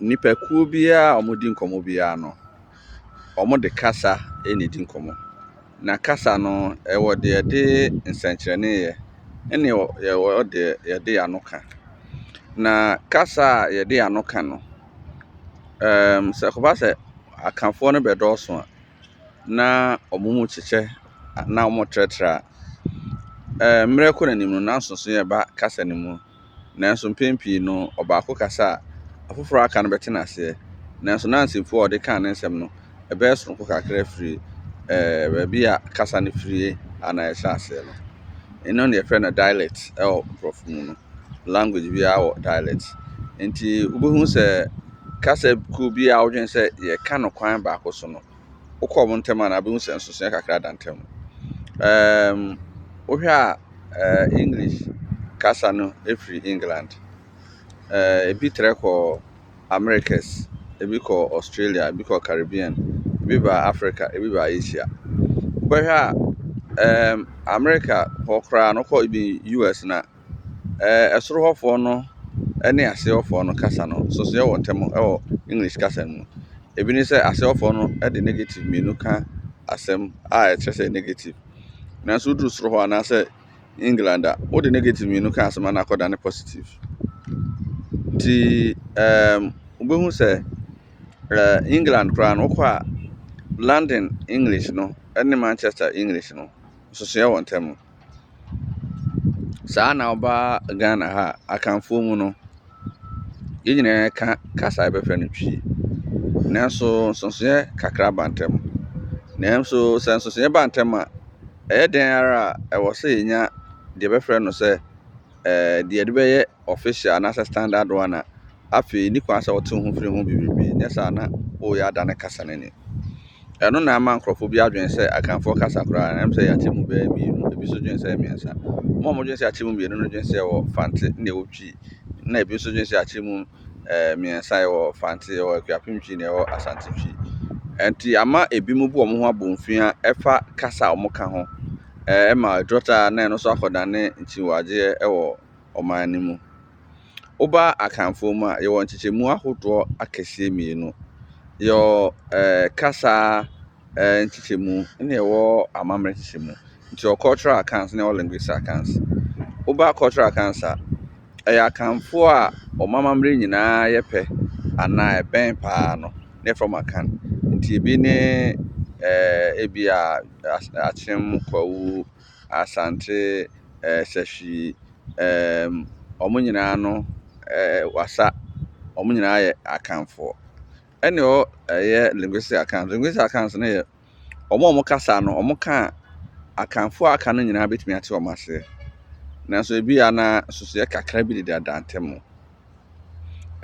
Nnipakuo biara a wɔredi nkɔmmɔ biara no, wɔde kasa na ɛdi nkɔmmɔ. Na kasa no, ɛwɔ deɛ ɛde nsɛnkyerɛnne yɛ, ɛna ɛwɔ deɛ yɛde yɛn ano ka. Na kasa a yɛde yɛn ano ka no, ɛɛm sɛ ɛkɔba sɛ Akanfoɔ no bɛdɔɔso a, na wɔn mu kyekyɛ anaa wɔtrɛtrɛ a, ɛɛ mmerɛ kɔ n'anim no, na nsonsonoeɛ ba kasa no mu. Nanso mpɛn pii no, ɔbaako kasa a, afoforo a aka no bɛte no aseɛ. Nanso na nsɛmfua a ɔde kaa ne nsɛm no, ɛbɛyɛ soronko kakra firi baabi a kasa no firie anaa ɛhyɛ aseɛ no. Ɛno na yɛfrɛ no dialect wɔ Nkurɔfo mu no. Language biara wɔ dialect. Enti wobɛhu sɛ kasa kuo biara wodwene sɛ yɛka no kwan baako so no, wokɔ wɔn ntam a, na wobɛhu sɛ nsonsonoeɛ kakra da ntam. Um, wohwɛ a uh, English kasa no firi England, uh, ebi trɛ kɔ Americas, ebi kɔ Australia, ebi kɔ Caribbean, ebi ba Africa, ebi ba Asia. Wobɛhwɛ a um, America hɔ koraa no kɔ ebi US na Ɛɛ soro hɔfoɔ no ne aseɛ hɔfoɔ no kasa no, nsonsonoeɛ wɔ ntam wɔ English kasa no mu. Ebi ne sɛ, aseɛ hɔfoɔ no de negative mmienu ka asɛm a ɛkyerɛ sɛ negative. Nanso woduru soro hɔ anaasɛ England a, wode negative mmienu ka asɛm a na akɔdane positive. Nti ɛɛm wobɛhu sɛ ɛɛ England koraa no, wokɔ a London English no ne Manchester English no, nsonsonoeɛ wɔ ntam. Saa na ɔba Ghana ha a, Akanfoɔ mu no, yɛn nyinaa ka kasa a yɛbɛfrɛ no Twi. Nanso nsonsonoeɛ kakra ba ntam. Nanso sɛ nsonsonoeɛ ba ntam a, ɛyɛ dɛn ara a, ɛwɔ sɛ yɛnya deɛ yɛbɛfrɛ no sɛ ɛɛ deɛ yɛde bɛyɛ official anaasɛ standard one a, afei nni kwan sɛ ɔtew ho firi ho bebrebe, nyɛ saa a na wɔreyɛ ada ne kasa no ani. Ɛno na ama nkurɔfo bi adwene sɛ Akanfoɔ kasa koraa no, ɛwom sɛ yɛate mu bɛyɛ mmienu, ebi nso dwene sɛ mmiɛnsa. Wɔn a wɔdwene sɛ yɛate mu mmienu no dwene sɛ yɛwɔ Fante ne yɛwɔ Twi, na ebi nso dwene sɛ yɛate mu eh, mmiɛnsa, yɛwɔ Fante, yɛwɔ Akuapem Twi, na yɛwɔ Asante Twi. Ɛnti ama ebinom bu wɔn ho abomfia ɛfa kasa a wɔka ho, eh, ɛma ɛdurɔ taa na ɛno nso akɔdane nkyiwagyeɛ ɛwɔ ɔman no mu. Woba Akanfoɔ mu a, yɛwɔ nkyekyɛmu ahodoɔ akɛseɛ mmienu. Yɛwɔ kasa nkyekyɛmu na yɛwɔ amammerɛ nkyekyɛmu. Nti yɛwɔ cultural Akans na yɛwɔ linguistic Akans. Woba cultural Akans a, ɛyɛ Akanfoɔ a wɔn amammerɛ nyinaa yɛ pɛ anaa ɛbɛn pa ara no na yɛfrɛ wɔn Akan. Nti ɛbi ne ɛɛ ebia Akyem, Kwawu, Asante, eh, Sahwi, ehm, wɔn nyinaa no, eh, Wasa, wɔn nyinaa yɛ Akanfoɔ. Ɛne hɔ ɛyɛ linguistic Akan. Linguistic Akans no yɛ wɔn a wɔn kasa no, wɔn ka a Akanfoɔ a aka no nyinaa bɛtumi ate wɔn aseɛ. Nanso ebi a na nsusuiɛ kakra bi deda dantɛ mu.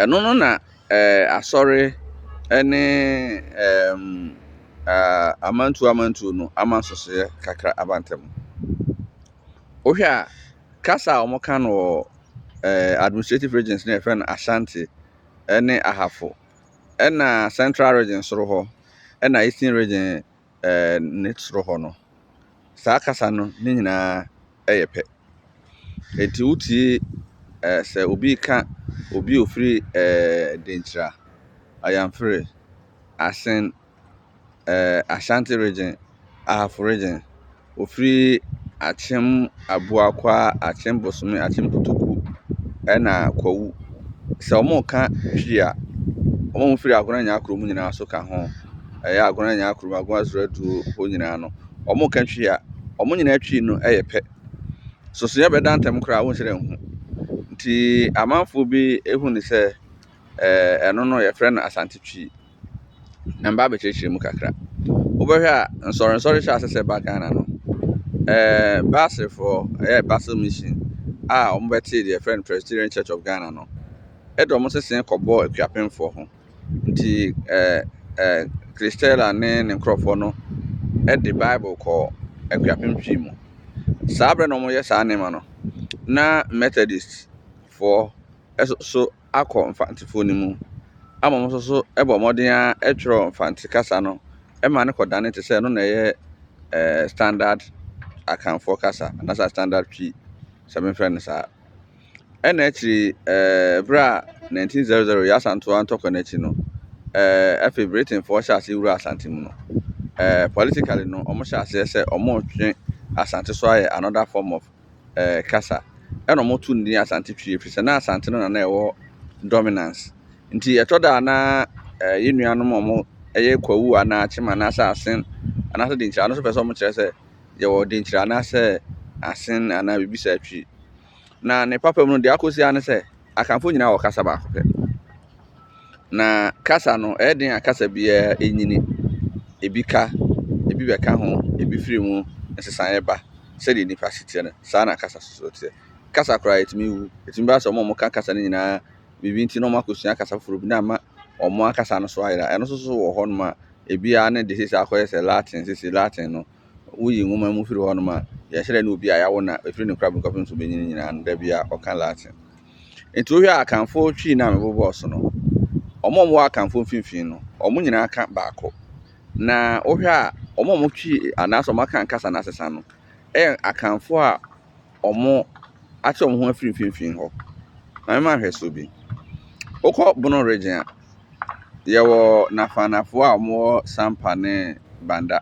Ɛno no na eh, asɔre ne eh, ah, amantuo amantuo no ama nsosoeɛ kakra aba ntam. Wohwɛ a, kasa a wɔka no wɔ eh, administrative regions no yɛfrɛ no Ashanti ne Ahafo, ɛna central region soro hɔ, ɛna eastern region ne soro hɔ no, saa kasa no ne nyinaa yɛ pɛ. Enti wotie sɛ obi reka obi a ɔfiri Denkyira, Ayamfere, Asen, Ashanti Region, Ahafo Region, Ɔfiri akyem aboakwa, akyem bosome, akyem kotoku ɛna kwawu. Sɛ wɔreka Twi a, wɔn a wɔfiri Agona Nyakro mu nyinaa nso ka ho. Ɛyɛ Agona Nyakro, Agona Zuraduo hɔ nyinaa no, wɔreka Twi a, wɔn nyinaa Twi no yɛ pɛ. Sosoeɛ bɛda ntam koraa a, wonhyɛ da nhu. Nti amanfoɔ bi hu no sɛ ɛɛ ɛno no wɔfrɛ no Asante Twi. na meba abɛkyerɛkyerɛ mu kakra. Wobɛhwɛ a, nsɔrensɔre hyɛɛ ase sɛ ɛba Ghana no, ɛɛɛ Baselfoɔ, ɛyɛɛ Basel Mission a wɔbɛtee deɛ yɛfrɛ no Presbyterian Church of Ghana no, ɛde wɔn nsesaeɛ kɔbɔɔ Akuapemfoɔ ho. Nti ɛɛɛ ɛɛɛ Christella ne ne nkorɔfoɔ no de Bible kɔɔ Akuapem Twi mu. Saa berɛ na wɔreyɛ saa nneɛma no, na Methodists foɔ nso so . akɔ Mfantefoɔ no mu ama wɔn nso so bɔ mmɔden ara twerɛ Mfante kasa no ma no kɔdane te sɛ ɛno na ɛyɛ ɛɛ standard Akanfoɔ kasa anaasɛ standard Twi sɛ memfrɛ no saa. Ɛna akyiri ɛɛ berɛ a 1900 Yaa Asantewaa ntɔkwa no akyi no, ɛɛ afei Britainfoɔ hyɛ aseɛ wura Asante mu no, ɛɛ politically no wɔhyɛ aseɛ sɛ wɔretwe Asante so ayɛ another form of ɛɛ kasa. Ɛna wɔtoo no din Asante Twi efisɛ na Asante no na na ɛwɔ dominance. Nti ɛtɔ da a na ɛɛ yɛn nuanom a wɔyɛ Kwawu anaa Akyem anaasɛ Asen anaasɛ Denkyira no nso pɛ sɛ wɔkyerɛ sɛ yɛwɔ Denkyira anaasɛ Asen anaa biribi saa Twi. Na ne papa mu no deɛ akɔ so ara ne sɛ. Akanfoɔ nyinaa wɔ kasa baako pɛ. Na kasa no, ɛyɛ den a kasa biara nyini. Ebi ka, ebi bɛka ho, ebi firi mu, nsesaeɛ ba. Sɛdeɛ nnipa se teɛ no, saa ara na kasa nso teɛ. Kasa koraa, ɛtumi wu. Ɛtumi ba sɛ wɔn a wɔka kasa no nyinaa, biribi nti na wɔakɔsua kasa foforɔ bi na ama wɔn ankasa no so ayera. Ɛno nso so wɔ hɔnom a, ebiara ne deɛ seesei akɔyɛ sɛ Latin seesei, Latin no. woyi nwoma mu firi hɔnom a, yɛkyerɛ ne obi a yɛawo no a, ɛfiri ne nkrabom kɔpem ne subenyin nyinaa no, da biara ɔka Latin. Nti wohwɛ a Akanfoɔ Twi no a mebobɔɔ so no, wɔn a wɔwɔ Akanfoɔ mfimfini no, wɔn nyinaa ka baako. Na wohwɛ a wɔn a wɔtwi anaasɛ wɔn Akan kasa no asesa no, ɛyɛ Akanfoɔ a wɔate wɔn ho afiri mfimfini hɔ. Ma mema nhwɛsoɔ bi. Wokɔ Bono Region a, yɛwɔ Nafanafoɔ a wɔwɔ Sampa ne Banda.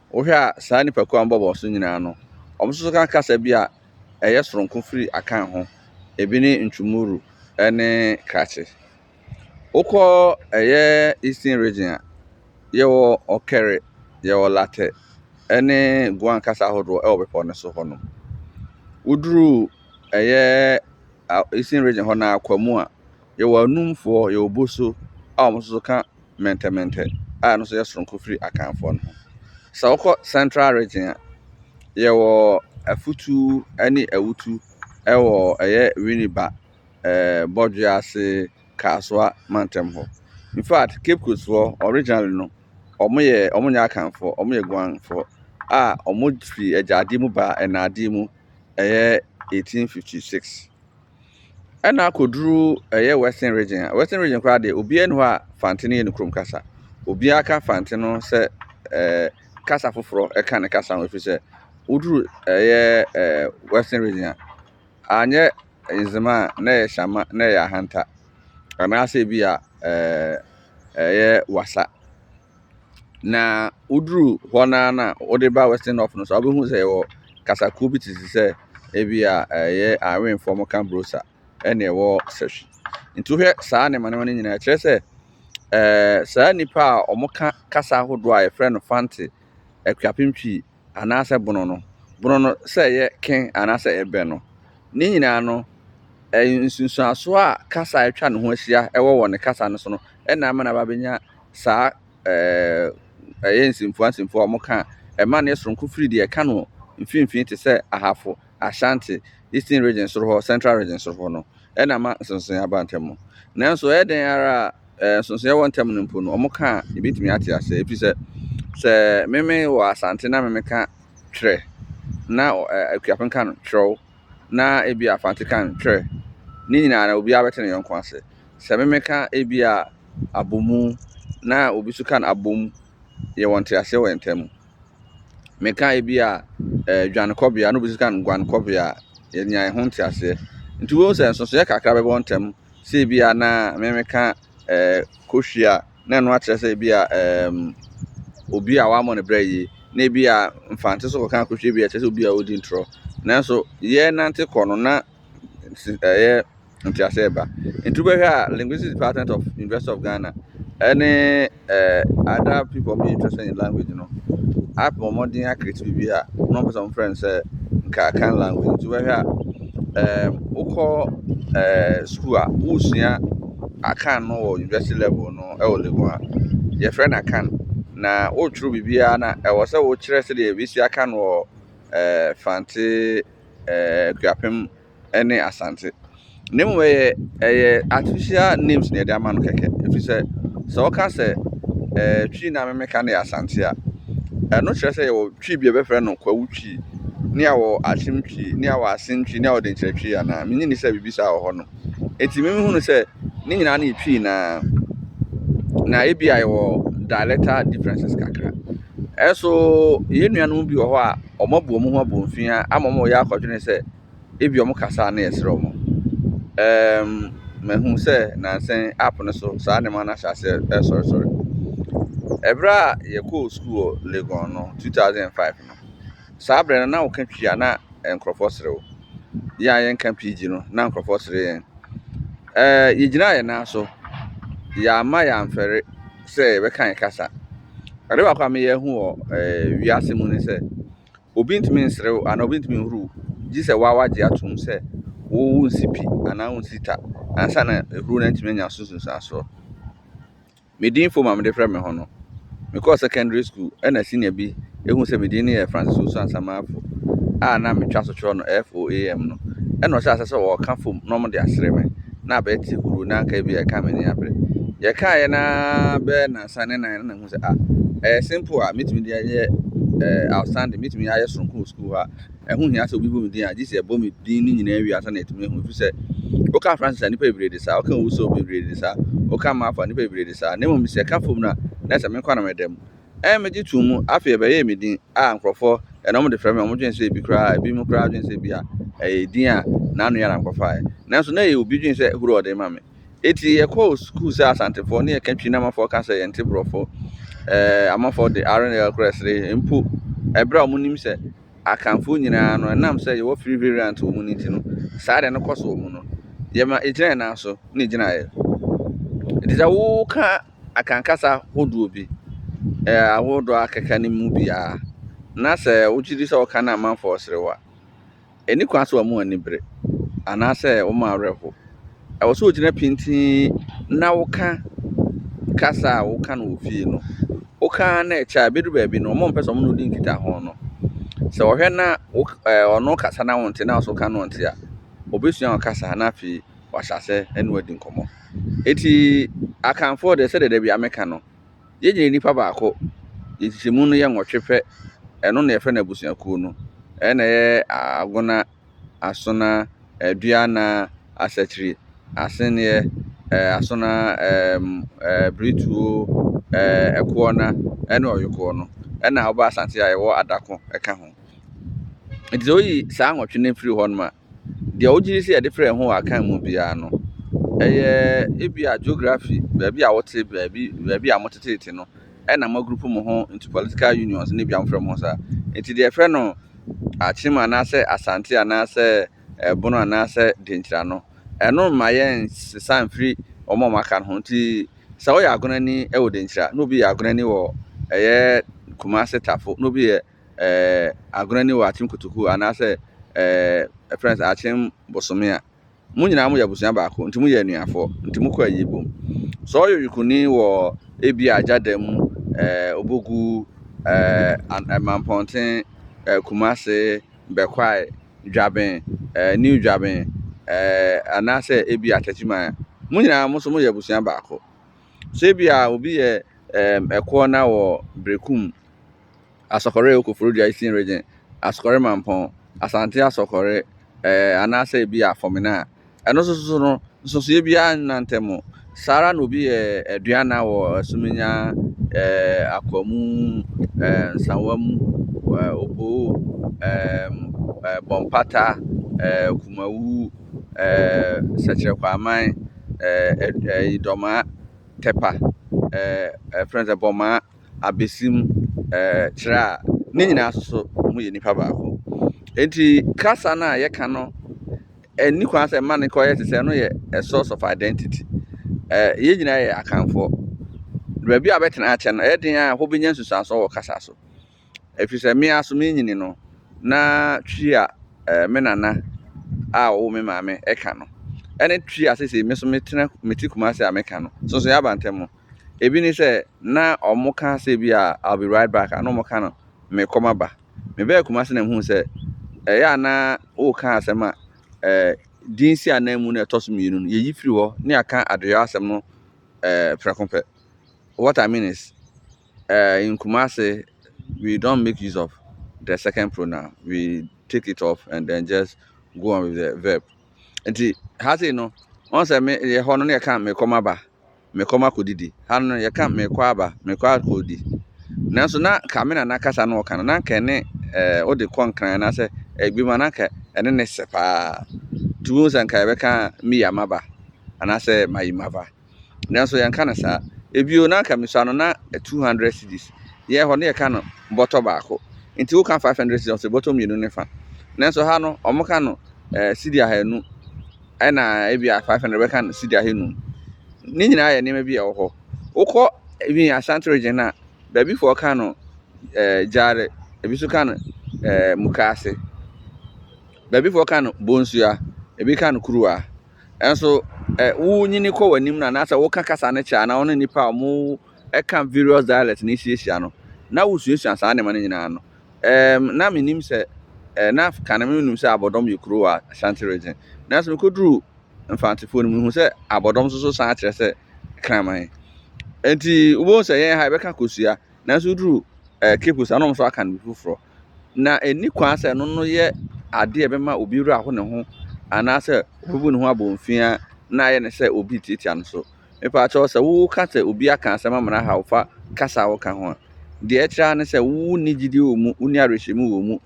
Wohwɛ a saa nnipakuo a wɔbɔ wɔn so nyinaa no, wɔn nso so ka kasa bi a ɛyɛ soronko firi Akan ho. Ebi ne Ntwumuru ne Krakye. Wokɔ ɛyɛ Eastern Region a, yɛwɔ Ɔkɛre, yɛwɔ Latɛ ne Guan kasa ahodoɔ wɔ bepɔ no so hɔnom. Woduru ɛyɛ Eastern Region hɔ no ara, Kwamu a, yɛwɔ Anumfoɔ, yɛwɔ Boso a wɔn nso so ka. Mɛntɛmɛntɛ a ɛno nso yɛ soronko firi Akanfoɔ no ho. Sɛ wokɔ Central Region a, yɛwɔ Afutu ne Awutu wɔ ɛyɛ Winneba, eh, Bɔdwe ase, Kasoa mantam hɔ. In fact, Cape Coast foɔ originally no, wɔn yɛ wɔn nyɛ Akanfoɔ, wɔn yɛ Guanfoɔ a wɔn firi agyadeɛ mu baa ɛnaadeɛ mu ɛyɛ 1856. ɛna akɔduru ɛyɛ western region a western region koraa deɛ obiara ni hɔ a fante no yɛ ne kurom kasa obiara ka fante no sɛ ɛɛ kasa foforɔ ɛka ne kasa ho ɛfiri sɛ woduru ɛyɛ ɛɛ western region a anyɛ nzema a na ɛyɛ hyɛma na ɛyɛ ahanta anaasɛ ebi a ɛɛ ɛyɛ wasa. Na woduru hɔ no ara no a, wode ba Western North no so a, wobɛhu sɛ yɛwɔ kasakuo bi te sɛ ebi a ɛyɛ Awenfoɔ mo ka Brosa ɛne ɛwɔ Sɛhwi. Nti wohwɛ saa nneɛma nneɛma no nyinaa kyerɛ sɛ ɛɛ saa nnipa a wɔka kasa ahodoɔ a yɛfrɛ no Fante, Akuapem Twi, anaasɛ bono no, bono no sɛ ɛyɛ ken anaasɛ ɛyɛ bɛ no. Ne nyinaa no, nsunsuanso a kasa a atwa ne ho ahyia wɔ wɔ ne kasa no so no na ama no aba abɛnya saa ɛɛ ɛyɛ nsɛmfua nsɛmfua a wɔka a ɛma no yɛ soronko firi deɛ ɛka no mfimfini te sɛ ahafo Ashanti, Eastern Region soro hɔ, Central Region soro hɔ no na ama nsonsonoeɛ aba ntɛm no. Nanso ɛyɛ dɛn ara a eh, nsonsonoeɛ wɔ ntɛm no mpo no, wɔn ka a yɛbɛtumi ate aseɛ. Ɛfiri sɛ, sɛ meme wɔ Asante na meme ka twerɛ na eh, Akuapem ka no twerɛw na ebi a Fante ka no twerɛ, ne nyinaa na obiara bɛte ne yɔnko ase. Sɛ meme ka ebi a abomu na obi nso ka no abom, yɛwɔ nteaseɛ wɔ yɛn ntam. meka ebi a ɛɛ dwanekɔbea na obi nso ka no guanekɔbea a, yɛnya ɛho nteaseɛ. Nti wohu sɛ nsonsonoeɛ kakra bɛba wɔn ntam sɛ ebi a na me meka ɛɛ kohwi a na ɛno akyerɛ sɛ ebi a ɛɛm obi a wammɔ ne brɛ yie na ebi a mfante nso kɔka kohwi ebi a ɛkyerɛ sɛ obi a ɔredi ntorɔ. Nanso yɛrenante kɔ no na ɛyɛ. ntease reba. Nti wobɛhwɛ a Linguistics Department of University of Ghana ɛne eh, other people ɔmo yɛ interested in language no apɛ ɔmo den akiriti biribi a na ɔmo pɛ sɛ ɔmo frɛ no sɛ nka kan language. Nti wobɛhwɛ a eh, wokɔ eh, school a wosua akan no wɔ university level no ɛwɔ Legon a yɛfrɛ no akan na wotwerɛ biribiara na ɛwɔ sɛ wokyerɛ sɛdeɛ yɛbɛsua akan wɔ eh, Fante eh, Kuapem ne Asante. Na mmom ɛyɛ ɛyɛ artificial names na yɛde ama no kɛkɛ ɛfiri sɛ, sɛ woka sɛ ɛɛ Twi na memeka no yɛ Asante a, ɛno kyerɛ sɛ yɛwɔ Twi bi a yɛbɛfrɛ no Kwawu Twi, ne yɛwɔ Akyem Twi, ne yɛwɔ Asen Twi, ne yɛwɔ Denkyerɛ Twi anaa? Mennye nni sɛ biribi saa wɔ hɔnom. Enti me mehunu sɛ ne nyinaa no yɛ Twi no ara, na ebia yɛwɔ dialectal differences kakra. Ɛso yɛn nuanom bi wɔ hɔ a wɔabu wɔn ho abomfiaa ama wɔreyɛ akɔdwene sɛ, Ebia wɔn kasa a na yɛsrɛ wɔn. Ɛɛm, mahu sɛ nansa yi app no so saa nneɛma no ahyɛ aseɛ resɔresɔre. Ɛberɛ a yɛkɔɔ sukuu wɔ Legon no, 2005 no, saa berɛ no na woka Twi a na nkurɔfoɔ sere wo. Yɛn a yɛnka Pidgin no, na nkurɔfoɔ sere yɛn. Ɛɛ, yɛgyinaa yɛn nan so. Yɛamma yɛamfɛre sɛ yɛbɛka yɛn kasa. Ade baako a meyɛ hu wɔ ɛɛ wiase mu ne sɛ, Obi ntumi nserew anaa obi ntumi nhuruw gye sɛ waa wagye atom sɛ wo wonsi pi anaa wonsi ta ansa na ehuru no atumi anya so nsunsuansoɔ. Me din fom a mede frɛ me ho no, mekɔɔ secondary school ɛna senior bi ehu sɛ me din no yɛ Francis Owusu Ansamafo a na metwa so kyerɛw no FOAM no ɛna ɔhyɛɛ aseɛ sɛ ɔɔka fom na ɔmo de asere me na abɛɛte huru na anka ebia ɛkaa m'ani abere. Yɛkaeɛ no ara bɛyɛ nansa ne nan na sɛ ah ɛyɛ simple a mɛtumi de ayɛ eh, outstanding mɛtumi ayɛ soronko wɔ sukuu hɔ a ɛho hia sɛ obi bɔ me din a gye sɛ ɛbɔ me din no nyinaa wie ansa na ɛtumi ahu ɛfiri sɛ woka francis a nnipa bebree de saa woka wuso bebree de saa woka maafo a nnipa bebree de saa na mmom sɛ ɛka fam no a na sɛ menkɔ na mɛda mu ɛn megye too mu afei ɛbɛyɛɛ me din a nkurɔfoɔ ɛna wɔn de frɛ me wɔn dwen sɛ ebi koraa ebi mu koraa dwen sɛ ebi a ɛyɛ din a n'ano yɛ na nkɔfaeɛ nanso na ɛyɛ obi dwen sɛ huro ɔde ma me Eti yɛkɔɔ sukuu sɛ Asantefoɔ ne yɛka Twi na Amafoɔ ka sɛ yɛnte Borɔfo. Ɛɛ, Amafoɔ de R ne L kora sere mpo ɛberɛ a wɔnim sɛ Akanfoɔ nyinaa no ɛnam sɛ yɛwɔ free variant wɔ mu no nti no, saa deɛ no kɔ so wɔ mu no. Yɛma ɛgyina yɛn nan so ne gyinaeɛ. Enti sɛ woka Akan kasa hodoɔ bi, ɛɛ ahodoɔ a akeka no mu biara, na sɛ wogye di sɛ woka no a amanfoɔ sere wo a, Enni kwan sɛ wɔn ani bere anaasɛ wɔn werɛ how. Ɛwɔ sɛ wogyina pintinn na woka kasa a woka no wɔ fie no. Woka ara na ɛkyɛ a, ebedu baabi no, wɔrempɛ sɛ wɔne wo di nkitaho no. Sɛ wɔhwɛ na wo ɛɛ ɔno rekasa na wonte na wo nso woka na ɔnte a, obesua wo kasa na afei wahyɛ ase ne wo adi nkɔmmɔ. Enti Akanfoɔ deɛ sɛdeɛ da biara meka no, Yɛn nyinaa yɛ nnipa baako. Yɛn nkyekyɛmu no yɛ nwɔtwe pɛ. Ɛno na yɛfrɛ no abusuakuo no. Ɛyɛ na ɛyɛ Agona, Asona, Aduana, Asakyiri, Aseneɛ, ɛɛ Asona, ɛɛm ɛɛ Brituo, ɛɛ Ɛkoɔna ɛne Ɔyokoɔ no. Ɛna woba Asante a yɛwɔ Adako ɛka ho. Nti sɛ woyi saa nwɔtwe no firi hɔ nom a, Deɛ wogye di sɛ yɛde frɛ Yehowa akan mu biara no, ɛyɛ ebia geography, baabi a wote, baabi baabi a moteteete no, ɛna moagrupu mo ho into political unions ne bia mofrɛ mo ho saa. Nti deɛ yɛfrɛ no Akyem anaasɛ Asante anaasɛ Ɛbono anaasɛ Denkyira no, ɛno mma yɛnsesa mfiri wɔn a wɔaka no ho. Nti sɛ woyɛ Agonani wɔ Denkyira na obi yɛ Agonani wɔ ɛyɛ Kumase Tafo na obi yɛ Agona ni wɔ Akyem Kotoku anaasɛ yɛfrɛ no sɛ Akyem Bosome a, mo nyinaa moyɛ abusua baako, nti moyɛ anuafoɔ, nti mokɔ ayie bom. Sɛ ɔyɛ Oyikuruni wɔ ebia Agyada mu, Obogu, Mampɔnten, Kumase, Bɛkwae, Dwaben, New Dwaben, anaasɛ ebia Takyiman a, mo nyinaa mo nso moyɛ abusua baako. Sɛ ebia obi yɛ Ɛkoɔ na wɔ Berekum, Asɔkɔre wɔ Koforidua Eastern Region, Asɔkɔre Mampɔn, Asante Asɔkɔre, ɛɛ anaasɛ ebi yɛ Afɔmena a, ɛno nso so no, nsonsonoeɛ biara nni n'antam. Saa ara na obi yɛ Aduana wɔ Asuminya, ɛɛ Akwamu, ɛɛ Nsawamu, ɛɛ Oboo, ɛɛm ɛɛ Bɔmpata, ɛɛ Kumawu, ɛɛ Sɛkyerɛ Kwaaman, ɛɛ ɛɛ Idɔmaa, Tɛpa, ɛɛ ɛɛ frɛ no sɛ Bɔmaa. abesim ɛɛ kyerɛ a, ne nyinaa nso so wɔyɛ nipa baako. Enti kasa no a yɛka no, ɛnni kwan sɛ mma no kɔyɛ te sɛ ɛno yɛ a source of identity. Ɛɛ yɛn nyinaa yɛ akanfoɔ. Baabi a bɛtena akyɛ no, ɛyɛ den a wobɛnya nsusuansoɔ wɔ kasa so. Ɛfiri sɛ me ara so menyini no, na twi a ɛɛ me nana a ɔwo me maame ɛka no, ɛne twi a seesei me nso metena mete Kumasi a meka no, Sonsonya Bantam no, Ebi ne sɛ, na wɔka sɛ bi a I'll be right back a, na wɔka no merekɔ maba. Mebɛɛ Kumasi na mehuu sɛ ɛyɛ a na woka asɛm a ɛɛ din si anan mu na ɛtɔ so mmienu no, yɛyi firi hɔ na yɛaka adeyɔ asɛm no ɛɛ prɛko pɛ. What I mean is, ɛɛ in Kumasi, we don't make use of the second pronoun, we take it off and then just go on with the verb. Nti ha sei no, wɔn sɛ me yɛ hɔ no na yɛka merekɔ maba. mekɔ makɔdidi. Ha no no, yɛka mekɔ aba, mekɔ akɔdi. Nanso na anka me nana kasa no ɔka no, na anka ɛne ɛɛ wode kɔ Nkran anaasɛ ebi mu a, na anka ɛne ne sɛ pa ara. Nti wohu sɛ anka yɛbɛka miya maba anaasɛ mayi mava. Nanso yɛnka no saa. Ebio na anka misua no na two hundred cedis. Yɛn hɔ no yɛka no bɔtɔ baako. Nti woka five hundred cedis a, ɔsɛ bɔtɔ mmienu ne fa. Nanso ha no, wɔka no ɛɛ cedi ahanu. ɛna ebi a five hundred bɛka no sidi ahanum ne nyinaa yɛ nneɛma bi a ɛwɔ hɔ wokɔ ebi yɛ ashanti region no a baabi foɔ ka no ɛɛ gyaade ebi nso ka no ɛɛ mukaase baabi foɔ ka no bonsua ebi ka no kuruwa nanso ɛ wonyini kɔ wɔn anim no anaasɛ woka kasa no kyɛ anaa wɔne nnipa a wɔn ɛka various dialect no ahyia hyia no na wosuasua saa nneɛma no nyinaa ano. Ɛɛm, na mennim sɛ, ɛɛ, na kan no mennim sɛ abɔdɔm yɛ kuro wɔ Ashanti region. Nanso mekɔduru Mfantefoɔ no mu, mehu sɛ abɔdɔm nso so san kyerɛ sɛ Kraman. Enti wobɛhu sɛ yɛn ha yɛbɛka kosua, nanso woduru ɛɛ Cape saa na wɔn nso aka no bi foforɔ. Na ɛnni kwan sɛ ɛno no yɛ adeɛ a ɛbɛma obi werɛ aho ne ho anaasɛ obebu ne ho abomfiaa na ayɛ no sɛ obi retiatia no so. Mepaakyɛw, sɛ wo ka sɛ obi aka asɛm ama no ahaw wo fa kasa a wo ka ho a, deɛ ɛkyerɛ ara ne sɛ wo nni gyidie wɔ mu, wo nni awerɛhyɛmu wɔ mu,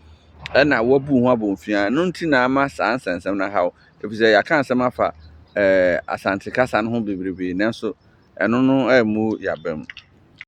ɛna woabu wo ho abɔnfua, ɛno nti na ama saa nsɛnsɛm no ahaw wo, efisɛ yɛaka asɛm afa eh, Asante kasa no ho bebrebe, nanso ɛno no ammu y'abam.